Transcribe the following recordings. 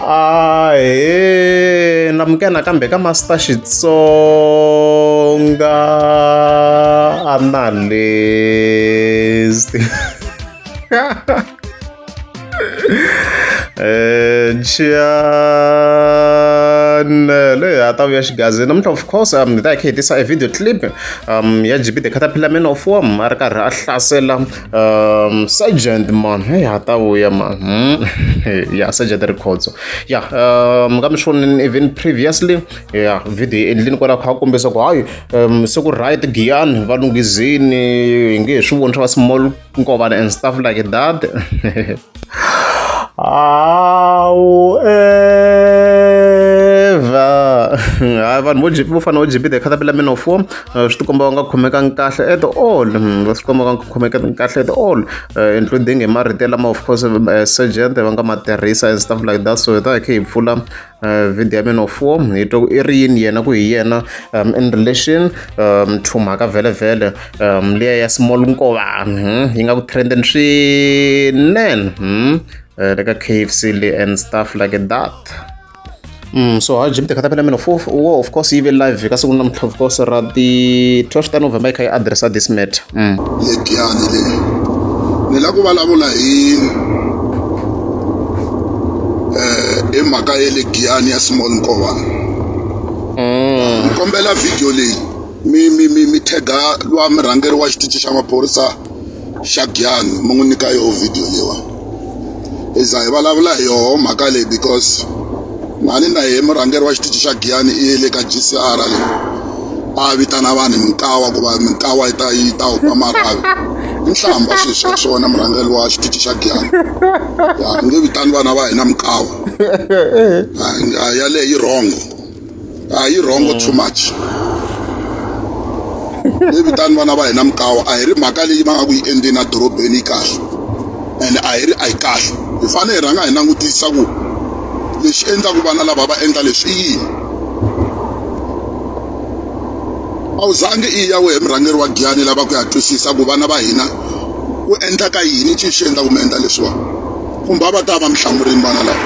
a he na muke nakambe ka master xitsonga analyst eh, Chiane leyi ha ta vuya xigazini namuntlha of course um ni ta hi kha hi tisa e video clip um ya gb the caterpillar man of worm a ri karhi a hlasela um sergeant man hey ha ta vuya man hmm? yeah sergeant rikhotso yeah um ka mi swi vonile even previously yeah video yi endlini kwalaho kha kombisa ku hayi um se ku right giyani va lunghizini hi nge he swi voni swa va small nkovana and stuff like that hayi vanhu vo vo fana vo gb the caterpillar min of war eh, swi tikomba va nga khomekangi kahle at all hmm, va swi komba va nga khomekangi kahle at all eh, including hi marito lama of course eh, sergent va nga ma tirhisa and stuff like that so hi ta hi khe hi pfula uh, video ya mina four hi twa ku i ri yini yena ku hi yena um, in relation um, to mhaka vhelevhele um, leya ya small nkovani hmm? yi nga ku trenden swinene hmm? uh, le ka kfc le and stuff like that Mm, so ha jim tekata pela mina fo wo of course yi ve live ka siku namuntlha of course ra ti 12 ta november yi kha yi addressa this matter Yekiyani leyi ni la ku vulavula hi hi mhaka ya le giyani ya small nkovana ni kombela video leyi mi mi mi mi tega lwa murhangeri wa xitichi xa maphorisa xa giyani mi n'wi nyika yoho video leyiwani hi za hi vulavula hi yoho mhaka leyi because mhani na yehe murhangeri wa xitichi xa giyani i ye le ka gcr leyi a vitana vanhu minkawa ku va minkawa yi ta yi ta huma marhavi i nhlamba swilo swa swona murhangeri wa xitichi xa giyani ya nge vitani vana va hina minkawa yaleyo yi rhongo a yi wrong too much hi vitani vana va hina mikawa a hi ri mhaka leyi va nga ku yi endleni edorobeni yi kahle and a hi ri a yi kahle hi fanele hi rhanga hi langutisa ku lexi endlaku vana lava va endla leswi i yini a wu zangi i ya wehe murhangeri wa giyani lava ku ya twisisa ku vana va hina ku endlaka yini xi xi endla ku mi endla leswiwani kumbe a va ta va mi hlamurini vana lava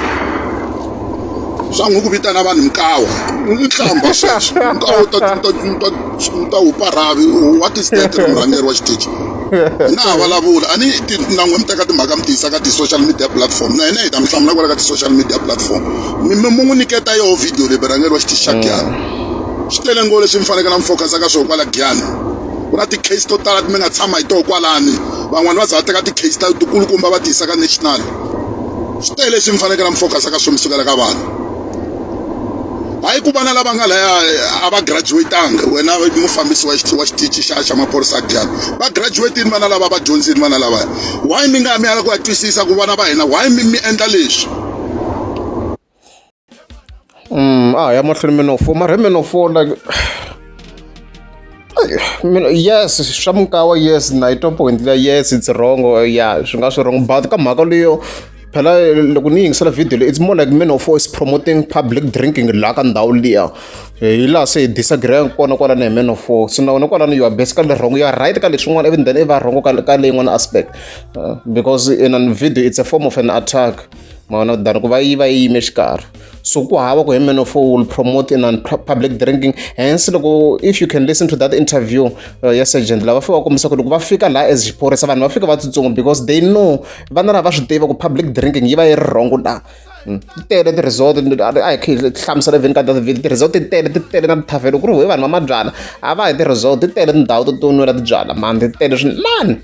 swa n'wi ku vitana vanhu mikawa nhlamba sweswo nkawa ta wu parhavi wa tisidente na murhangeri wa xitichi na ha vulavula a ni nan'we mi teka timhaka mi tiyisa ka ti-social media platform na hina hi ta mi hlamula kwala ka ti-social media platform mi mi mu n'wi nyiketa yoho video leyi murhangeri wa xitichi xa giyani swi tele ngo leswi mi fanekele mi focus-a ka swona kwala giyani ku na ti-case to tala mi nga tshama hi toho kwalani van'wani va za va teka ti-case ta tikulukumba va tiyisa ka national swi tele leswi mi fanekele mi focus ka swona sukela ka vanhu hayi ku vana lava nga laya a va graduatanga wena mufambisi wa wa xitichi xa xa maphorisa dyana va graduatini vana lava va dyondzini vana lavaya why mi nga mi ala ku ya twisisa ku vana va hina why mi mi endla leswi Mm, a hi ya mahlweni mi no fo mara mi no fo like yes swa mukawa yes na yi twa point leya yes it's wrong ya swi nga swi wrong but ka mhaka leyo phela loko ni yingisela video leyi it's more like men of is promoting public drinking laha ka ndhawu liya hi laha se hi disagree kona kwalani hi men of so na wena kwalani you are basically wrong you are right ka leswin'wana even then i va wrong ka ka leyin'wana aspect uh, because in a video it's a form of an attack mavona than ku va yi va yi yime xikarhi so ku hava ku hemenofo will promote in public drinking hence loko if you can listen to that interview uh, ya sergeant lava fika va kombisa ku loko va fika laha as xiphorisa vanhu va fika va tsutsuma because they know vana lava va swi tiva ku public drinking yi va yi ri rhongo laha hmm. ti tele ti-resort a hi khe hlamusela vhini ka david ti-resort ti tele ti tele na tithavelo ku ri hoyi vanhu va mabyala a va hi ti-resort ti tele tindhawu to to nwela tibyala mani ti tele swinene mani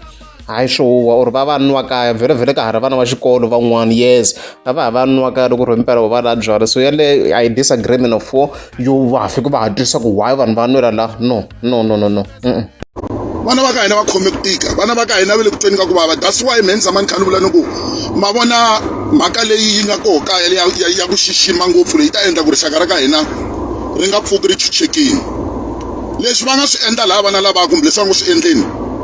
Hayi swo huhwa or va va nwa kaya vherovhero ka ha ri vana va xikolo van'wana yes a va ha va nwa kaya loko ku ri himpela va lava byalwa so yaleyo I disagree mina for yo va fika va ha twisisa ku why vanhu va nwela la no no no no no vana va ka hina va khome ku tika vana va ka hina va le ku tweni ka ku vava that's why me ni tshama ni kha ni vula ni ku ma vona mhaka leyi yi nga koho kaya ya ya ku xixima ngopfu leyi ta endla ku rixaka ra ka hina ri nga pfuki ri chuchekile leswi va nga swi endla lava vana lavaka kumbe leswi va ngo swi endleni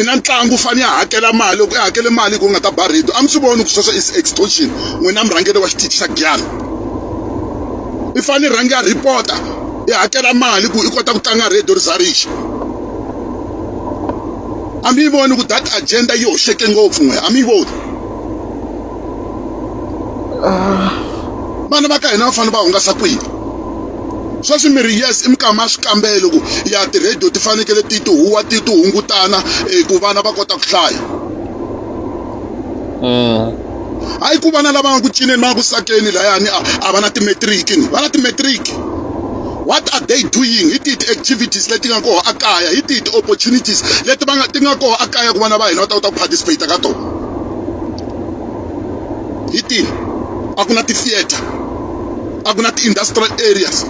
i na ntlangu u fanele ya hakela mali loko i hakele mali hi ku nga ta ba rhedo a mi swi voni ku sweswo is extortion n'wina murhangeri wa xitichi xa giyani i fanele i rhange ya rhipota i hakela mali ku i kota ku tlanga rhedo ri za rixa a mi yi voni ku that agenda yi hoxeke ngopfu n'we a mi yi voni vana va ka hina va fanele va hungasa kwihi sweswi mi ri yes i mikama ya swikambelo ku ya ti-radio ti fanekele ti ti huwa ti ti hungutana eh, ku vana va kota ku hlaya mm. hayi ku vana lava nga ku cineni va nga ku sakeni layani a va na timetriki ni va na timetriki what are they doing hi tihi ti-activities leti nga koho akaya hi tihi ti-opportunities leti va nga ti nga koho akaya ku vana va hina va ta kota ku participate ka tona hi tihi a ku na ti-theatre a ku na ti-industrial areas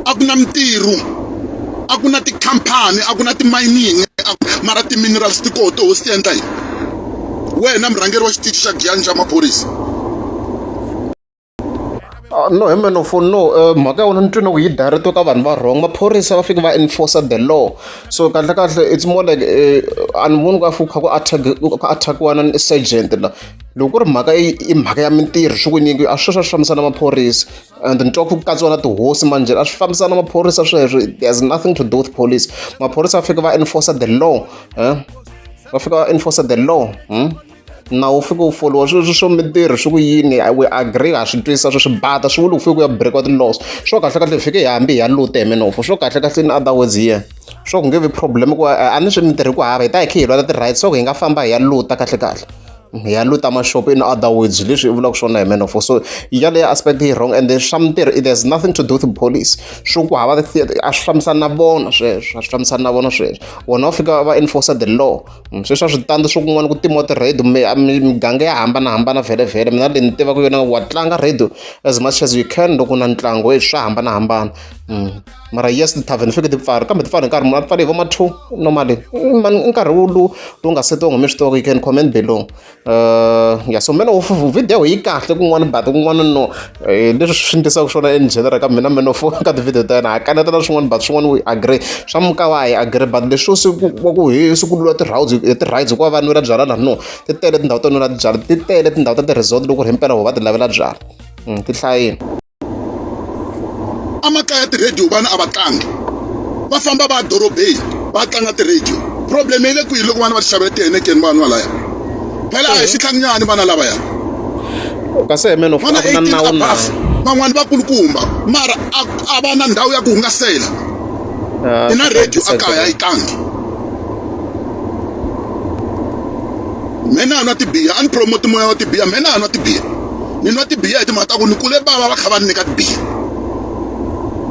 a ku na mintirho a ku na tikhampani a ku na timayini mara ti-minerals ti koho toho swi ti endla yini wena murhangeri wa xitichi xa giyani xa maphorisa Ah, no hi meno for no eh, mhaka yona ni twe na ku yi direct ka vanhu va wrong maphorisa va fike va enforcer the law so kahle kahle it's more like eh, a ni voni ka fuka ku attack ku attackiwa na sergeant la loko ku ri mhaka i mhaka ya mintirho swi ku nyingi a swi swa swi fambisana maphorisa and ni twa ku katsiwa na tihosi manje a swi fambisana maphorisa sweswo there's nothing to do with police maphorisa va fike va enforcer the law eh? va fika va enforcer the law hmm? nawu wu fike wu foliwa sweswi swo mintirho swi ku yini we agree ha swi twisisa swi swi bata swi vuli ku fike ku ya breakiwa ti-laws swo kahle kahle hi fike hi hambi hi ya lute hi minofo swo kahle kahle in other words here swo ku nge vi problem ku a ni swi mintirho ku hava hi ta hi khe hi lwela ti-right swa ku hi nga famba hi ya luta kahle kahle hi ya luta mashopo in other words leswi i vulaka swona hi minofo so yaleyo aspect yi wrong and swa mintirho it has nothing to do with police swo ku hava a swi fambisani na vona sweswo a swi fambisani na vona sweswo vona va fika va enforcer the law sweswi a swi tandi swa kun'wana ku timiwa ti-radio miganga ya hambanahambana vhele mina leyi ni tivaka yona wa tlanga radio as much as you can loko na ntlangu e swa hambanahambana mm. mara yes ti-tarven fike ti pfari kambe ti pfari hi nkarhi munhu a pfale hi va ma-two normally mm, i nkarhi wu lowu lowu nga setiwa ngome swi tivaka you can comment below Uh, ya so meno video yi kahle kun'wana but kun'wana no eh, leswi swi ndlisaka swona in general ka mina meno fo ka tivhidiyo ta yena ha kanetela swin'wana but swin'wana we agree swa muka wa hi agree but leswo siku wa ku hi siku lula ti-rides ti-rides hikuva va nwela byala laha no ti tele tindhawu to nwela byala ti tele tindhawu ta ti-resort loko ri hi mpela ho va ti lavela byala hmm, ti hlayini a makaya ti-radio vana a va tlangi va famba va ya dorobeni va tlanga ti-radio problem yi le kwihi loko vana va ti xavela tihenekeni vanhu valaya phela a hi xitlhanginyani vana lavaya kasi hi meno vana eighteen above van'wani vakulukumba mara a va na ndhawu ya ku hungasela i na radio a kaya yi tlangi mina a nwa tibiya a ni promote moya wa tibiya mina a nwa tibiya ni nwa tibiya hi timhaka ta ku ni kule bava va kha va ni nyika tibiya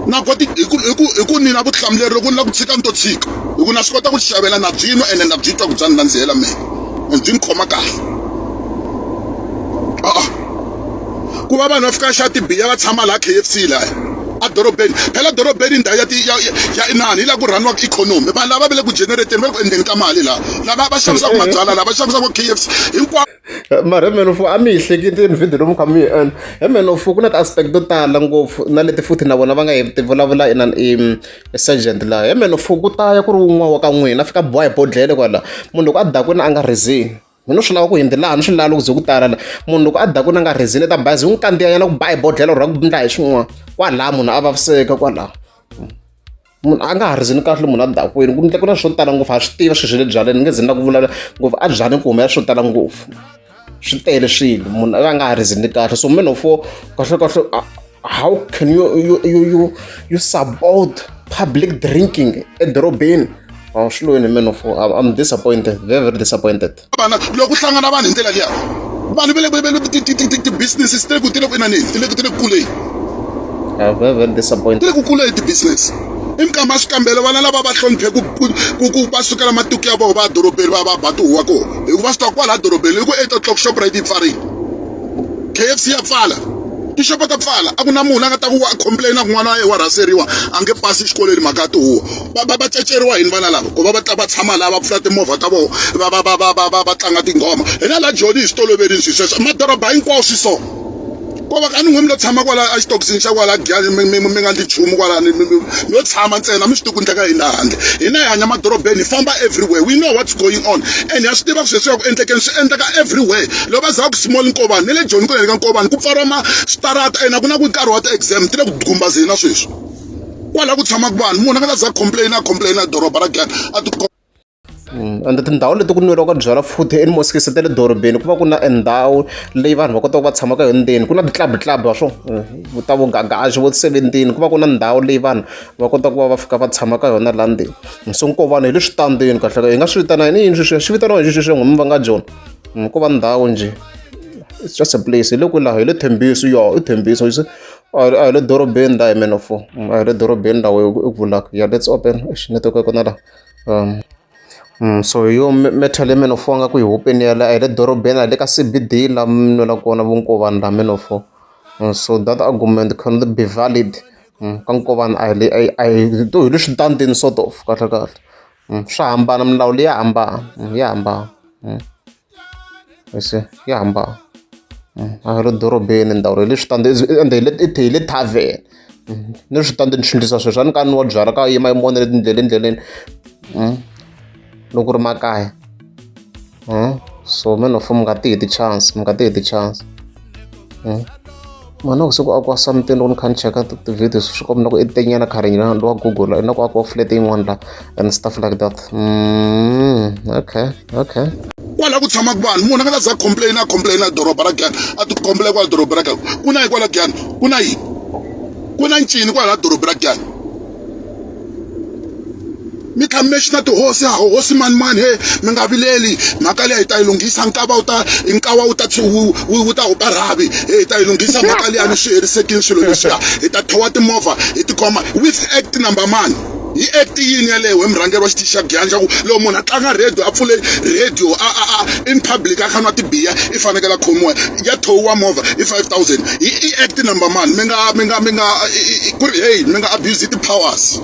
na ku ti hi ku hi ku hi ku ni na vutihlamuleri loko ni la ku tshika ni to tshika hi ku na swi kota ku ti xavela na byi nwa ene na byi twa ku bya ni nandzihela mina and byi ni khoma kahle a-a ku va vanhu va fika xa tibiya va tshama laha k f c laya edorobeni phela dorobeni ndhawu ya ti ya ya inani yi la ku rhaniwa ikhonomi vanhu lava va le ku generateni va le ku endleni ka mali laha lava va xavisaka mabyala lava xavisaka k f c hinkwavo Mara mehe ni ku a mi yi hleketi yini video leyi mi kha mi yi endla. He mhani of ku na ti-aspect to tala ngopfu na leti futhi na vona va nga ti vulavula inana i Sergeant la. He mhani of ku ta ya ku ri wun'wana wa ka n'wina a fika a biwa hi bodlhela kwala. Munhu loko a dakwini a nga rhizili, mi ngo swi lava ku yini laha ni swi lava loko ku ze ku tala la. Munhu loko a dakwini a nga rhizili i ta bazi hi n'wi kandziyanyana ku ba hi bodlhela or-o a ku endla hi swin'wana, kwalaho munhu a vaviseka kwalaho. munhu a nga ha rizini kahle munhu a dakwini ku ndle ku na swo tala ngopfu a swi tiva sweswi le byaleni nge zini na ku vulavula ngopfu a byaleni ku humela swo tala ngopfu swi tele swilo munhu a nga ha rizini kahle so men ofo kahle kahle how can you you you you, you support public drinking edorobeni oh, swi loyini men ofo i'm disappointed very very disappointed vana loko hlangana vanhu hi ndlela liya vanhu va le ti-business ti le ku ti le ku inaneni ti le ti le ku kuleni ti le ku kuleni ti-business i mikama swikambelo vana lava va hloniphe ku va sukela matiko ya vona va dorobeni va va ba tihuwa kona hikuva swi ta kwala dorobeni loko eight o'clock shoprite yi pfarile k f c ya pfala tixopo ta pfala a ku na munhu la nga ta ku wa complaina ku n'wana wa yena wa rhaseriwa a nge pasi exikolweni mhaka ya tihuwa va va va caceriwa yini vana lava ku va va ta va tshama laha va pfula timovha ta vona va va va va va va va tlanga tinghoma hina la joni hi swi toloverile swi sweswo madoroba hinkwawo swi so ko va ka ni n'we mi lo tshama kwala exitokisini xa kwala giyani mi mi mi nga ndli nchumu kwalani mi lo tshama ntsena mi swi tiku ndleka hina handle hina hi hanya madorobeni hi famba everywhere we know what's going on and ha swi tiva ku sweswi ya ku endlekeni swi endleka everywhere lo va za ku small nkovani ni le joni ku le ka nkovani ku pfariwa ma switarata and a ku na ku nkarhi wa ti-exam ti le ku gumbazeni na sweswi kwala ku tshamaka vanhu munhu a nga ta za complain a complain a doroba ra gana a ti Mm. ende tindhawu leti ku nweriwaka byalwa futhi emosques ta le dorobeni ku va ku na endhawu leyi vanhu va kotaka va tshamaka yo ndzeni ku na ti-club club wa swo mm, ta vo gagaxi vo seventeen ku va ku na ndhawu leyi vanhu va kotaka ku va va fika va tshama ka yona la ndzeni mm, so nko vanhu hi le switandeni kahleka hi nga swi vitana yini yini sweswiya swi vitaniwa hi sweswiya n'wimi va nga jona ku va ndhawu njhe it's just a place hi le kwilaho hi le thembiso yo i thembiso a hi le dorobeni la hi mane of a hi le dorobeni la wehe u vulaka ya lets open eish netiweke ya kona la so hi yo matter leyi mane of a nga ku yi hupeni ya la a hi le dorobeni a hi le ka C_B_D la mi nwela kona vukovana la mane of so that argument can not be valid ka nkovana a hi le a hi a hi to hi le switandini sort of kahle kahle swa hambana milawu leyi ya hambana ya hambana. se ya hamba a ri dorobeni ndhawu ra le switandi ende hi le i hi le thaveni ni switandi ni swi endlisa sweswo a ni ka ni wa byala ka yima yi mona letindlela endleleni loko ri makaya so man of mi nga ti heti chance mi nga ti heti chance. eh? mani wa siku a ku wa something loko ni kha ni cheka ti-video swi komba na ku i tenyana current na wa google na ku a ku wa flat yin'wana la and stuff like that mm, okay okay kwala ku tshamaka vanhu munhu a nga ta za complain a complain a doroba ra gani a ti complain kwala doroba ra gani ku na yi kwala gani ku na yini ku na ncini kwala doroba ra gani mi tlhela mi lexi na tihosi hosi mani mani he mi nga vileli mhaka leyi hi ta yi lunghisa nkava wu ta nkava wu ta wu ta hupa rhavi he hi ta yi lunghisa mhaka leyi a ni swi herisekile swilo leswiya hi ta thowa timovha hi tikhoma with act number mani yi act yini yaleyo hi murhangeri wa xitichi xa giyanja ku loko munhu a tlanga radio a pfule radio a a a in public a kha nwa tibiya i fanekele a khomiwa ya thohiwa movha i five thousand i i act number man mi nga mi nga mi nga ku ri hey mi nga abuse ti-powers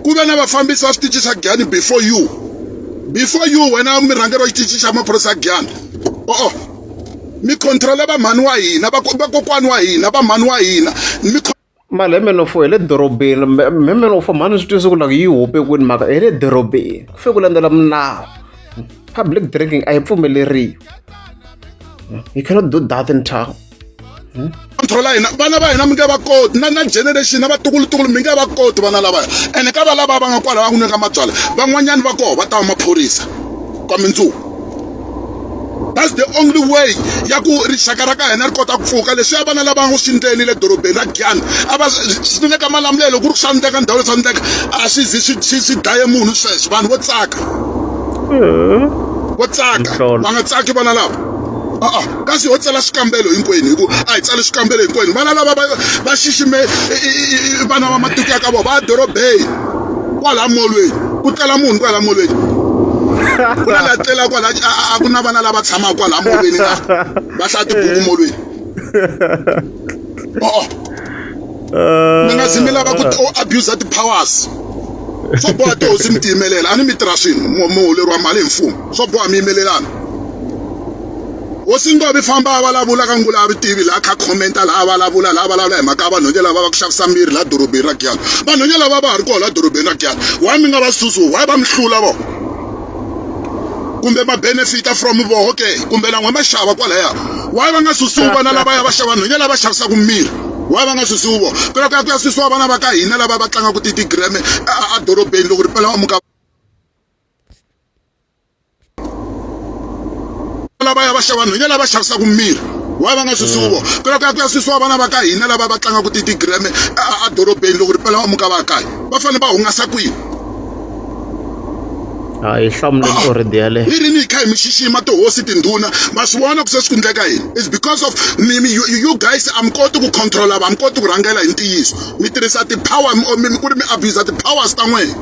ku ve na vafambisi va switichi swa giyani before you before you wena murhangeri wa xitichi xa maphorisa ya giyani o-o mi controla vamhani wa hina vakokwani wa hina vamhani wa hina mi mali hi meno fo hi le dorobeni hi meno fo mhani swi twise ku loko yi hope kwini mhaka hi le dorobeni ku fike ku landzela milawu public drinking a yi pfumeleriwi you cannot do that in town hmm? thola hina vana va hina mi nge va koti na na generation na vatukulutukulu mi nge va koti vana lavaya ene ka va lava va nga kwala va n'wi nyika mabyala van'wanyani va koho va ta va maphorisa ka mindzuku that's the only way ya ku rixaka ra ka hina ri kota ku pfuka leswiya vana lava ngo swi ndleni le dorobeni ra giyani a va swi nga ka malamulelo ku ri swa ndleka ndhawu leswa ndleka a swi zi swi swi swi dlaye munhu sweswo vanhu vo tsaka vo tsaka va nga tsaki vana lava a-a kasi ho tsala swikambelo hinkwenu hi ku a hi tsali swikambelo hinkwenu vana lava va xixime vana va matiko ya ka vona va dorobeni kwala molweni ku tlela munhu kwala molweni ku na la tlela kwala a ku na vana lava tshamaka kwala molweni na va hlaya tibuku molweni oo mi nga zi mi lava ku abuser ti-powers swa boha tihosi mi tiyimelela a ni mi tirha swinhu muholeriwa mali hi mfumo swa boha mi yimelelana hosi ntovi famba a vulavula ka ngula a vi tivi laha kha khomenta laha a vulavula laha vulavula hi mhaka ya vanhonye lava va ku xavisa miri laha dorobeni ra giyana vanhonye lava va ha ri koho laha dorobeni ra giyana why mi nga va susu why va mi hlula vona kumbe va benefita from voho ke kumbe lan'we va xava kwalaya waye va nga susiwi vana lavaya va xava nhwenya lava xavisaka mirhi waye va nga susiwi vo phela ku ya ku ya susiwa vana va ka hina lava va tlangaka titigreme edorobeni loko ri pela va muka lavaya va xava nhwenya lava xavisaka mirhi waye va nga susiwi vo phela ku ya ku ya susiwa vana va ka hina lava va tlangaka titigreme edorobeni loko ri pela va muka va kaya va fanele va hungasa kwini a hi hlamuleni oredi yaleyo yini ni kha hi mi xixima tihosi tindhuna ma swi vona ku se swi ku ndleka yini is because of you guys a mi koti ku controla va mi koti ku rhangela hi ntiyiso mi tirhisa ti-power ku ri mi abusa ti-powers ta n'wina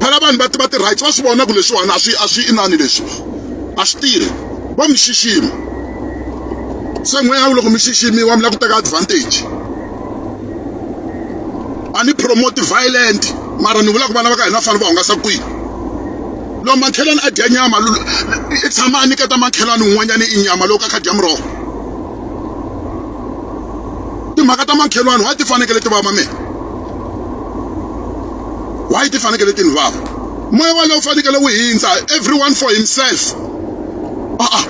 phela vanhu va tiva ti-rights va swi vona ku leswiwani a swi a swi inani leswi a swi tirhi va mi xixima se n'weya loko mi xiximiwa mi lava ku teka advantage a ni promote violent mara ni vula ku vana va ka hina fana va hungasa kwihi loko makhelwani a dya nyama i tshama a nyiketa makhelwani un'wanyana i nyama loko a kha dya muroho timhaka ta makhelwani wa ti fanekele ti vava mina why ti fanekele ti ni vava moya walowo fanekele wu hindza everyone for himself a-a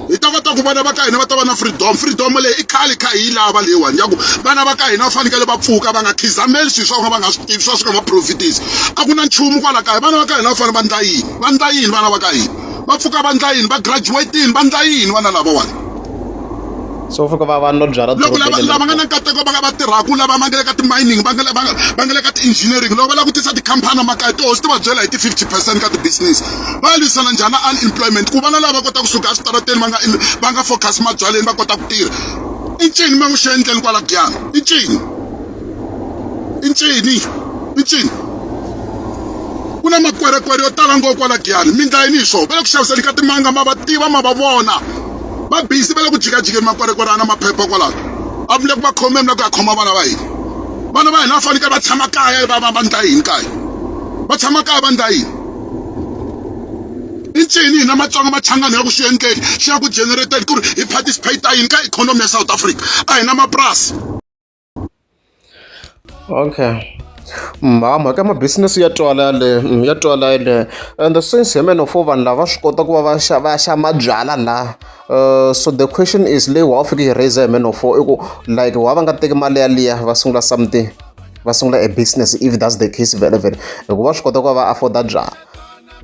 hi ta kota ku vana va ka hina va ta va na freedom freedom leyi i khale kha hi lava leyiwani ya ku vana va ka hina va fanekele va pfuka va nga khizameli swilo swa vona va nga swi tivi swa swi nga va profitisi a ku na nchumu kwala kaya vana va ka hina va fanele va ndla yini va ndla yini vana va ka hina va pfuka va ndla yini va graduatini va ndla yini vana lavawani so fika va vanhu va byala loko lava lava nga na nkateko va nga va tirhaka lava va nga le ka ti-mining va nga le va nga va nga le ka ti-engineering loko va lava ku tisa tikhampani makaya tihosi ti va byela hi ti-fifty percent ka ti-business va ya lwisana njhani na unemployment ku vana lava va kota kusuka eswitarateni va nga va nga focus mabyaleni va kota ku tirha i ncini ma n'wi xi endleni kwala giyana i ncini i ncini i ncini ku na makwerekwere yo tala ngopfu kwala giyani mi ndlayini hi swona va le ku xaviseni ka timanga ma va tiva ma va vona va busy va le ku jikajikeni makwerekwere a na maphepha kwalaho a vule ku va khome mina ku ya khoma vana va hina vana va hina va fanekele va tshama kaya va va va ndla yini kaya va tshama kaya va ndla yini i ncini hina matsonga machangani ya ku swi endleki xi ya ku generated ku ri hi participate yini ka ikhonomi ya south africa a hi na mapurasi okay mhama ka ma business ya twala yaleyo ya twala yaleyo and since hi many of four vanhu lava swi kota ku va va xa va xa mabyalwa la uh, so the question is leyi wa fika yi raise hi many of four i ku like wa va nga teki mali yaliya va sungula something va sungula a business if that's the case vele vele hikuva swi kota ku va va afforda byalwa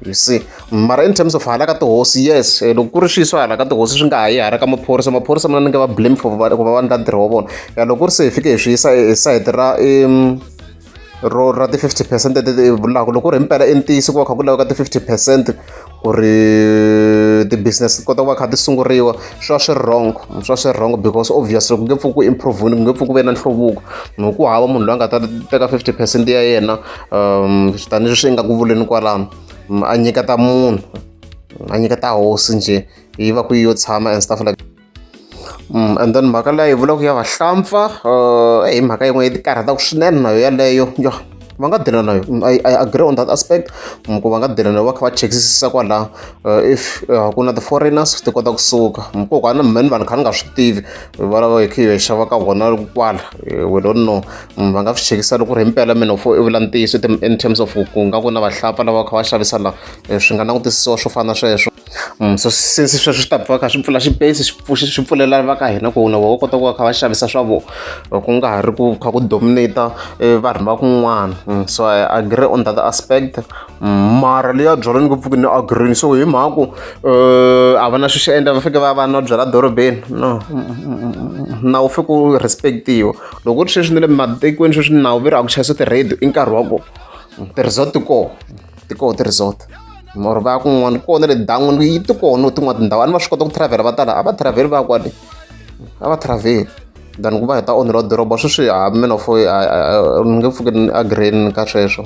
you see mara in terms of hala ka tihosi yes eh, loko ku ri swiso hala ka tihosi swi nga ha yi hala ka maphorisa maphorisa mina ni nge va blame for ku va va ndla ntirho wa vona ya loko ku ri se hi fike hi swi yisa hi sayiti ra ro ra ti-fifty percent leti vulaka loko ku ri himpela i ntiyiso ku va kha ku laveka ti-fifty percent ku ri ti-business ti kota ku va kha ti sunguriwa swi va swi ri wrong swi va swi ri wrong because obviously ku nge pfuki ku improve-ni ku nge pfuki ku ve na nhluvuko hi ku hava munhu loyi a nga ta teka fifty percent ya yena um tanihileswi yi nga ku vuleni kwalano mm, a nyiketa munhu a nyiketa hosi njhe yi va ku yi yo tshama and stuff like mm, and then mhaka leyi vulaka ya vahlampfa uh, hi mhaka yin'we yi ti karhataka swinene nayo yaleyo yo va nga dela nayo mm, I, i agree on that aspect mm, ku va nga dela nayo va kha va chekisisa kwalaho uh, if uh, ku na ti-foreigners ti kota kusuka mm, kokwana mhani vanhu kha ni nga swi tivi valava hi kha hi xava ka vona kwala eh, we don't know mm, va nga swi chekisa loko ri himpela mina u i vula ntiyiso in terms of ku nga ku na vahlapa lava va kha va xavisa la eh, swi nga langutisiwa swo fana sweswo mm, so since sweswo swi ta pfa kha swi pfula xipesi swi pfulela va ka hina ku na vona kota ku va kha va xavisa swa vona eh, ku nga ha ri ku kha ku dominate eh, vanhu va kun'wana mm, so i agree on that aspect mara leyi ya byalwa ni ku pfuki ni agree so hi mhaku a va na swi swi endla va fike va va na byala dorobeni no na wu fike u respectiwa loko ri sweswi ni le matikweni sweswi ni nawu ve ri a ku chayisa ti-radio i nkarhi wa ku ti-resort ti koho ti koho ti-resort or va ya kun'wana kona le dan'wini yi ti kona tin'wana tindhawu a ni va swi kota ku travel va tala a va travel va ya kwale a va travel than ku va hi ta onheriwa doroba sweswi ha mina fo ni nge pfuki ni agree ka sweswo.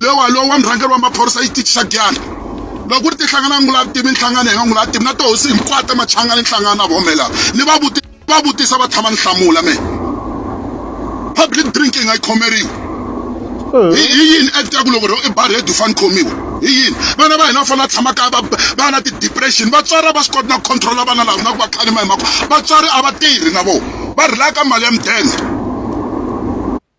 lewa lowu wa murhangeri wa maphorisa xitichi xa dyana loko ku ri tihlangana ngula tivi nhlangano hi nga ngula tivi na tihosi hinkwato machanga ni nhlangano na vomela ni va vuti va vutisa va tshama ni hlamula me public drinking a yi khomeriwi hi hi yini act ya ku loko i bar head u fane khomiwa hi yini vana va hina va fanele va tshama kaya va va na ti-depression vatswari a va swi koti na ku controla vana lava na ku va khalima hi mhaka vatswari a va tirhi na vona va rilaka mali ya mudende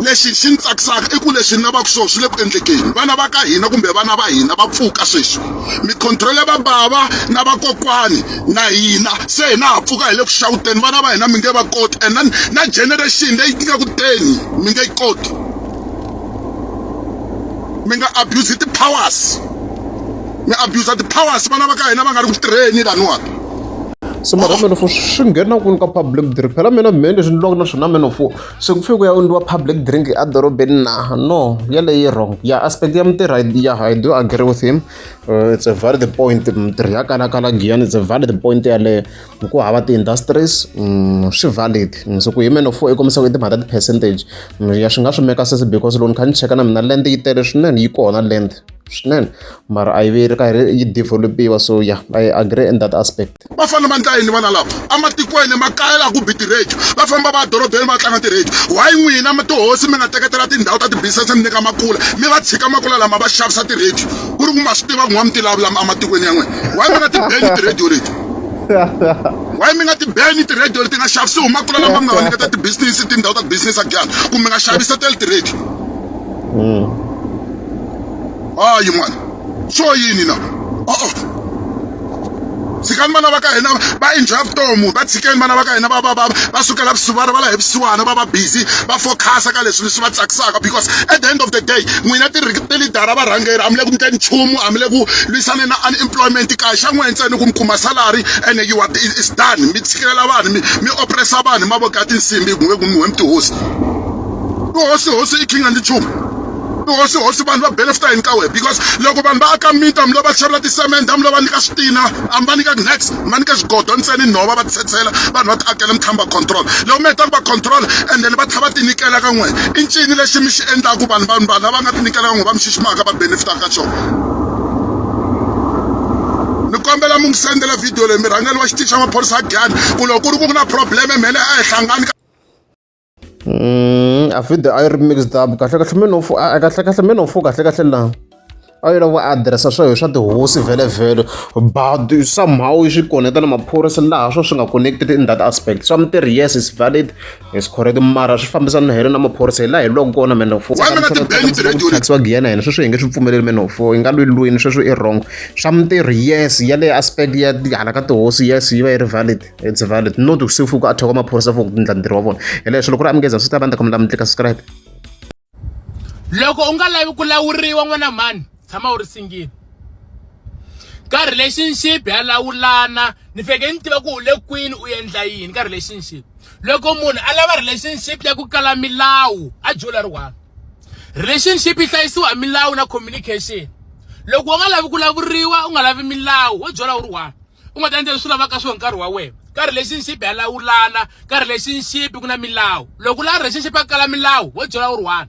lexi xi ni tsakisaka i ku leswi ni lavaka swona swi le ku endlekeni vana va ka hina kumbe vana va hina va pfuka sweswi mikhontrolo ya vabava na vakokwani na hina se hina ha pfuka hi le ku xawuteni vana va hina mi nge va koti and then na generation leyi ti nga ku teni mi nge yi koti mi nga abuse ti-powers mi abuser ti-powers vana va ka hina va nga ri ku tirheni laniwani se mara meno fo swi nghena kwini ka public drink phela mina mheni leswi ni lwaka na swona meno fo se ku fike ku ya endliwa public drink edorobeni na no yaleyo yi wrong ya aspect ya mutirhi ya i do agree with him uh, it's a valid point mutirhi ya kalakala giyani it's a valid point yaleyo ku hava ti-industries mm, swi valid mm, so ku hi meno fo i kombisa ku i timhaka ti-percentage mm, ya swi nga swi meka sesi because loko ni kha ni cheka na mina land yi tele swinene yi kona land swinene mara a yi ve ri karhi yi develop-iwa so ya i agree in that aspect va fanele va ndla yini vana lava ematikweni makaya laha ku bi ti-radio va famba va dorobeni va tlanga ti-radio why n'wina tihosi mi nga teketela tindhawu ta ti-business mi nyika makula mi va tshika makula lama va xavisa ti-radio ku ri ku ma swi tiva ku n'wa mi ti lavulam ematikweni ya n'wina why mi nga ti beni ti-radio leti why mi nga ti beni ti-radio leti nga xavisiwi makula lama mi nga va nyiketa ti-business tindhawu ta ti-business a giyani kumbe mi nga xavisa tele ti-radio mm. hayi mwana swo yini na o-o tshikani vana va ka hina va enjoya vutomi va tshikeni vana va ka hina va va va va sukela vusiwana va la hi vusiwana va va busy va fokhasa ka leswi leswi va tsakisaka because at the end of the day n'wina tilidara varhangeri a mi le ku ndleni nchumu a mi le ku lwisane na unemployment kaya xa n'wina ntsena ku mi kuma salary and you are is done mi tshikelela vanhu mi mi opressa vanhu hi mavoko ya tinsimbi hi ku mi we mi tihosi tihosi hosi i king and nchumu hosi hosi vanhu va benefita yini ka wena because loko vanhu va aka mita mi lo va xavela tisemende mi lo va nyika switina a mi va nyika nex mi va nyika swigodo ntseni nhova va titshetshela vanhu va ti akela mi tshama va control loko mi heta ku va control and then va tlha va tinyikela ka n'wina i ncini lexi mi xi endlaku vanhu vanhu vanhu lava nga tinyikela ka n'wina va mi xiximaka va benefita ka xona ni kombela mi n'wi sendela video leyi mirhangeli wa xitixa maphorisa a giyani ku loko ku ri ku ku na probleme mhele a hi hlangani Mm, a video a yi ri mixed up kahle kahle me no fo a kahle kahle me no fo kahle kahle la a yi lava addressa swa swa tihosi vhele vhele but somehow yi swi koneta na maphorisa laha swo swi nga connected in that aspect swa mitirhi yes is valid is correct mara swi fambisana na hina na maphorisa hi laha hi loko kona me no fo taxiwa giyena hina sweswo hi nge swi pfumeleli me no fo yi nga lwi lwini sweswo i wrong swa mitirhi yes ya le aspect ya hala ka tihosi yes yi va yi ri valid it's valid no to se fuku a thoko maphorisa for ku endla ntirho wa vona hi leswo loko ri amukeza swi ta va ndza kombela mi tlika subscribe loko u nga lavi ku lawuriwa n'wana mhani tshama u ri singile ka relationship ya lawulana ni feke ni tiva ku u le kwini u endla yini ka relationship loko munhu a lava relationship ya ku kala milawu a jola ri one relationship yi hlayisiwa hi milawu na communication loko u nga lavi ku lavuriwa u nga lavi milawu wo jola u ri one u nga ta endla leswi lavaka swona nkarhi wa wena ka relationship ya lawulana ka relationship ku na milawu loko u lava relationship ya kala milawu wo byela u ri one